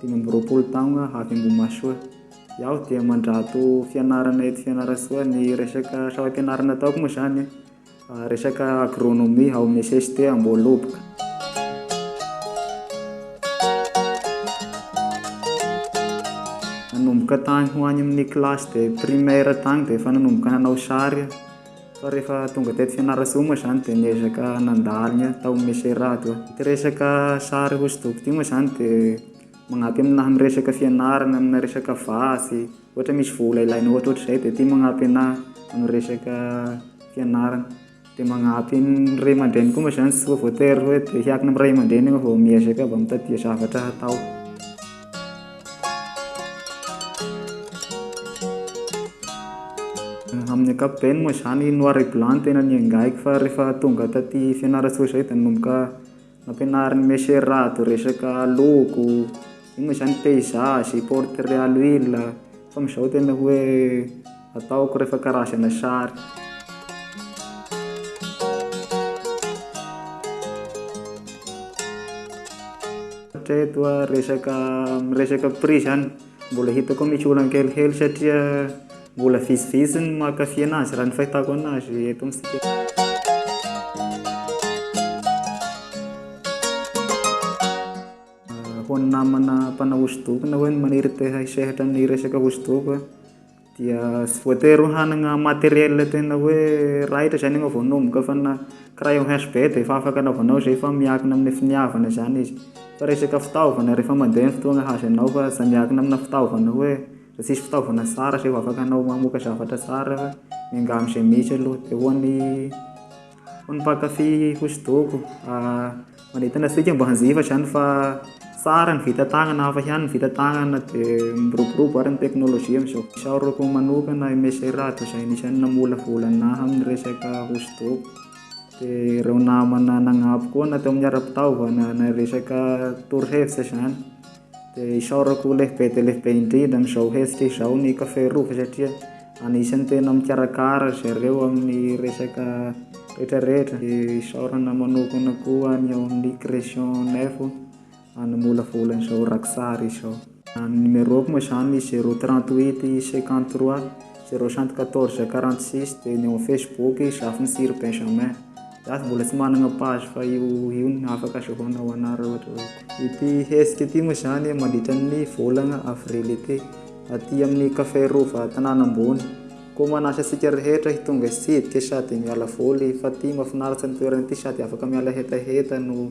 Dimy amby roapolo taogna avy Ambohimahasoa. Iaho dia mandrato fianarana eto Fianarantsoa. Ny resaka sampam-pianarana ataoko moa izany resaka agronomie ao amin'ny cst Amboholoboka. Nanomboka tany ho any amin'ny classe de primaire tany dia efa nanomboka nanao sary aho. Fa rehefa tonga teto Fianarantsoa moa izany dia niezaka nandalo ny ahy tao Meserado aho. Ity resaka sary hosodoko ity moa izany dia magnampy amin'ny lahy miresaka fianarana, amina resaka vatsy, ohatra misy vola ilaina ohatrohatr'izay dia ity magnampy anah amin'ny resaka fianarana. Dia magnampy ny ray aman-dreny koa moa izany tsy voatery hoe te hiankina amin'ny ray aman-dreny ianao vao miezaka, vao mitadia zavatra hatao. Amin'ny ankapobeny moa izany noir et blanc no tena niaingahiko fa rehefa tonga taty Fianarantsoa izay dia nanomboka nampianarin'i Monsieur Rado resaka loko, iny moa izany paysage, portrait à l'huile fa amin'izao tena hoe Ataoko rehefa karazana sary. Hatreto aho resaka miresaka prix zany mbola hitako misy olana kelikely satria mbola vitsivitsy ny mankafy anazy raha ny fahitako anazy eto amintsika eto. Ho an'ny namana mpanao hosodoko na hoe ny maniry te-hisehatra amin'ny resaka hosodoko. dia tsy voatery ho hanana matériel tena hoe raitra izany ianao vao hanomboka fa na crayon HB dia efa afaka anaovanao izay fa miankina amin'ny finiavana izany izy fa resaka fitaovana rehefa mandeha ny fotoana hahazo anao fa tsy miankina amina fitaovana hoe raha tsisy fitaovana tsara izay vao afaka anao mamoaka zavatra tsara fa miangavy izay misy aloha dia ho an'ny Ho an'ny mpankafy hosodoko, manentana antsika hoe mba hanjifa izany fa tsara ny vita tagnana, hafa ihany ny vita tagnana dia miroborobo ary ny teknolojia amin'izao. Isaorako manokana i Me Serado izay anisan'ny namolavola anah amin'ny resaka hosodoko, dia ireo namana nanampy koa na teo amin'ny ara-pitaovana na resaka torohevitra izany. Dia isaorako ho lehibe dia lehibe indrindra amin'izao hetsika izao ny Café Rova satria anisan'ny tena mikarakara ry zareo amin'ny resaka rehetrarehetra. Dia isaorana manokana koa ny ao amin'ny Creation Info nanamolavola an'izao rakitsary izao. Ny numéro-ko moa izany zéro trente huit cinquante trois zéro cent quatorze quarante six dia ny ao amin'ny Facebook Zafintsiry Benjamin. Za mbola tsy managna page fa io io no afaka azahoanao anara ohatra hoe ity hetsika ity moa zany mandritra ny volagna avril ity aty amin'ny cafe rova tanàna ambony koa manasa antsika rehetra hitonga hitsidika sady miala voly fa ty mafinaritra ny toerana ity sady afaka miala hetaheta no